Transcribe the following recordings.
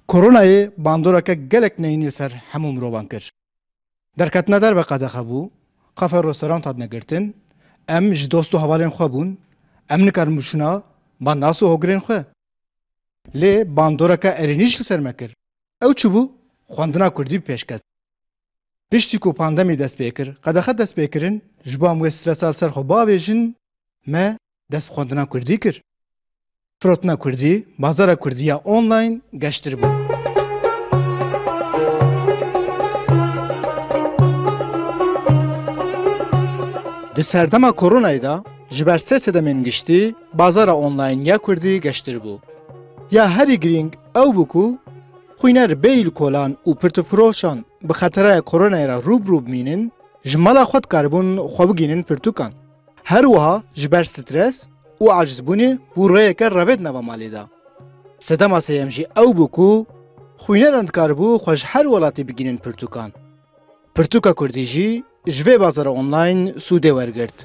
Koronayê bandoreke gelek neyînî li ser hemû mirovan kir. Derketina derve qedexe bû, kafe û restoran hatine girtin, em ji dost û hevalên xwe bûn, em nikarin biçûna ba nas û hogirên xwe. Lê bandoreke erênî jî li ser me kir. Ew çi bû? Xwendina kurdî bi pêş ket. Piştî ku pandemî dest pê kir, qedexe dest pê kirin, ji bo em wê stresa li ser xwe biavêjin, me dest bi xwendina Kurdî kir. Firotina Kurdî, bazara Kurdî ya online geştir bû. Di serdema koronayê de ji ber sê sedemên giştî bazara online ya Kurdî geştir bû. Ya herî girîng ew bû ku xwîner bê îlkolan û pirtûkfiroşan bi xeteraya koronayê re rû bi rû bimînin, ji mala xwe dikaribûn xwe bigihînin pirtûkan. Her wiha ji ber stres û acizbûnê bû rêyeke revêt nava malê de. Sedema sêyem jî ew bû ku xwîneran dikaribû xwe ji her welatê bigihînin pirtûkan. Pirtûka kurdî jî ji vê bazara online sûdê wergirt.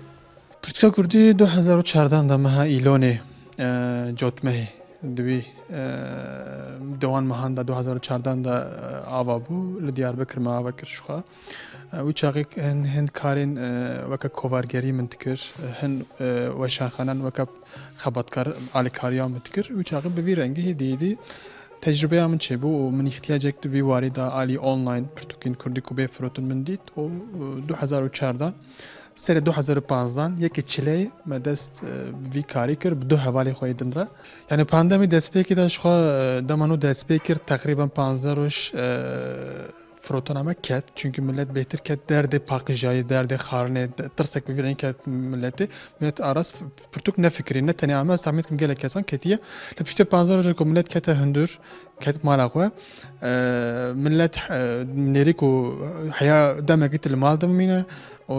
Pirtûka kurdî du hezar û çardan de meha îlonê cotmehê di wî dewan mehan de du hezar û çardan de ava bû. Li Diyarbekir me ava kir jixwe. Wî çaxê hin karên weke kovargerî min dikir, hin weşanxanan weke xebatkar alîkariya min dikir. Wî çaxê bi vî rengî hêdî hêdî tecrübeya min çêbû û min îhtiyacek di vî warî de alî online pirtûkên kurdî ku bê firotin min dît û du hezar û çar de serê du hezar û panzdan yekê çileyê me dest bi vî karî kir bi du hevalê xwe yê din re. Yanî pandemî destpêkê de ji xwe dema nû destpê kir teqrîben panzdeh roj Firotaname ket çünkü millet bêtir ket derdê paqijayê, derdê xarinê, tirsek bi vî rengî ket milletê. Millet aras pirtûk nefikirî, ne tenê ame ez tahmîn dikim gelek kesan ketiye. Li piştê panzdeh roja ku millet kete hundir, ket mala xwe, millet nêrî ku heya demekî tu li mal dimîne û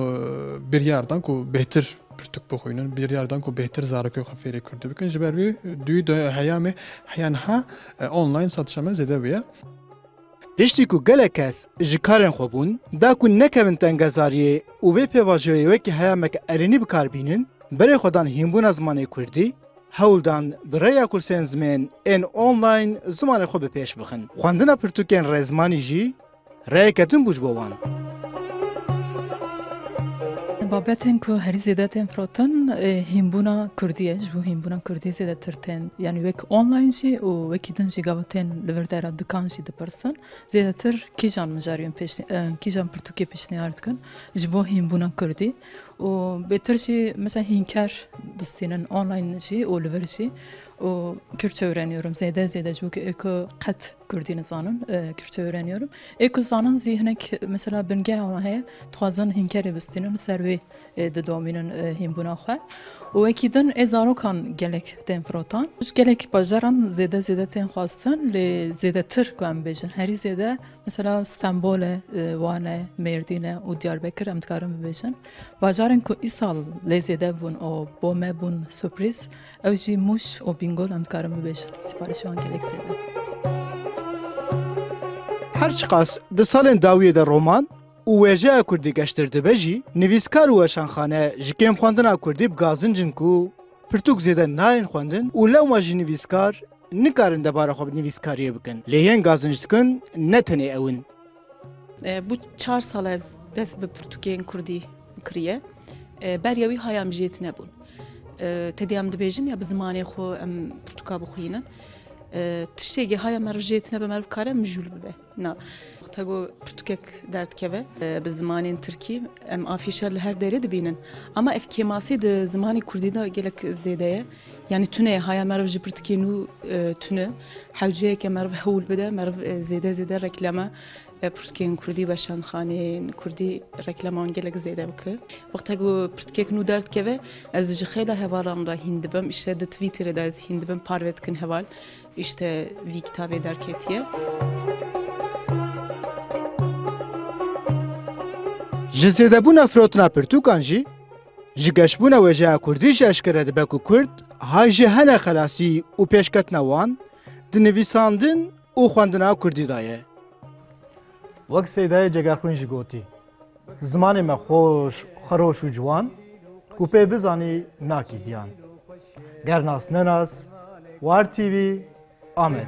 biryar dan ku bêhtir pirtûk bixwînin, biryar dan ku bêhtir zarokê xwe fêrî kurdî bikin. Ji ber wî duyî heya me heya niha online satişa me zêde bûye. Piştî ku gelek kes ji karên xwe bûn, da ku nekevin tengezariyê û vê pêvajoyê wekî heyamek erênî bi kar bînin, berê xwe dan hînbûna zimanê kurdî, hewl dan bi rêya kursên zimên ên online zimanê xwe bi pêş bixin. Xwendina pirtûkên rêzimanî jî rêyeke din bû ji bo wan. Babetên ku herî zêde tên firotin hînbûna Kurdî ye. Ji bo hînbûna Kurdî zêdetir tên yanî wek online jî û wekî din jî gava tên li vir dera dikan jî dipirsin. Zêdetir kîjan mijariyên kîjan pirtûkê pêşniyar dikin ji bo hînbûna Kurdî û bêtir jî mesela hînker distînin online jî û li vir jî û Kürtçe wêreniyorum zêde zêde ji bo ku qet Kurdî nizanin, Kürtçe öğreniyorum. Ê ku zanin zî hinek mesela bingeha wan heye, dixwazin hînkerê bistînin, li ser wê didomînin hînbûna xwe. û wekî din ê zarokan gelek tên firotan. Ji gelek bajaran zêde zêde tên xwestin lê zêdetir ku em bêjin herî zêde mesela Stenbol e, Wan e, Mêrdîn e û Diyarbekir em dikarin bibêjin. Bajarên ku îsal lê zêde bûn û bo me bûn surprîz, Ew jî Mûş û Bîngolan dikarim bibêjin. Sîparişê wan gelek zêde ye. Her çiqas di salên dawiyê de roman û wêjeya kurdî geştir dibe jî, nivîskar û weşanxane ji kêm xwendina kurdî bi gazincin ku pirtûk zêde nayên xwendin û lewma jî nivîskar nikarin debara xwe bi nivîskariyê bikin. Lê yên gazinc dikin ne tenê ew in. Bû çar sal ez dest bi pirtûkên kurdî kiriye. Beriya wî haya min jê tinebûn. Tedê em dibêjin ya bi zimanê xwe em pirtûka bixwînin. Tiştêkî haya min re jê tine be meriv kare mijûl bibe. Na te got pirtûkek derdikeve bi zimanên tirkî em afîşa li her derê dibînin. Ama ev kêmasî di zimanê kurdî de gelek zêde ye. Yanî tune ye haya meriv ji pirtikê nû tune hewceyeke meriv hewl bide meriv zêde zêde reklama pirtikên kurdî weşanxaneyên kurdî reklaman gelek zêde bike wexte ku pirtikek nû derdikeve ez ji xêla hevalan re hîn dibim îşte di twîtterê de ez hîn dibim parve dikin heval îşte vî kitabê derketiye. Ji zêdebûna firotina pirtûkan jî Ji geşbûna wêjeya kurdî jî eşkere dibe ku kurd hay ji hene xelasî û pêşketina wan di nivîsandin û xwendina kurdî de ye. Wek Seydayê Cegerxwîn jî gotî, Zimanê me xweş, xweroş û ciwan ku pê bizanî nakî ziyan. Ger nas nenas, War TV, Amed.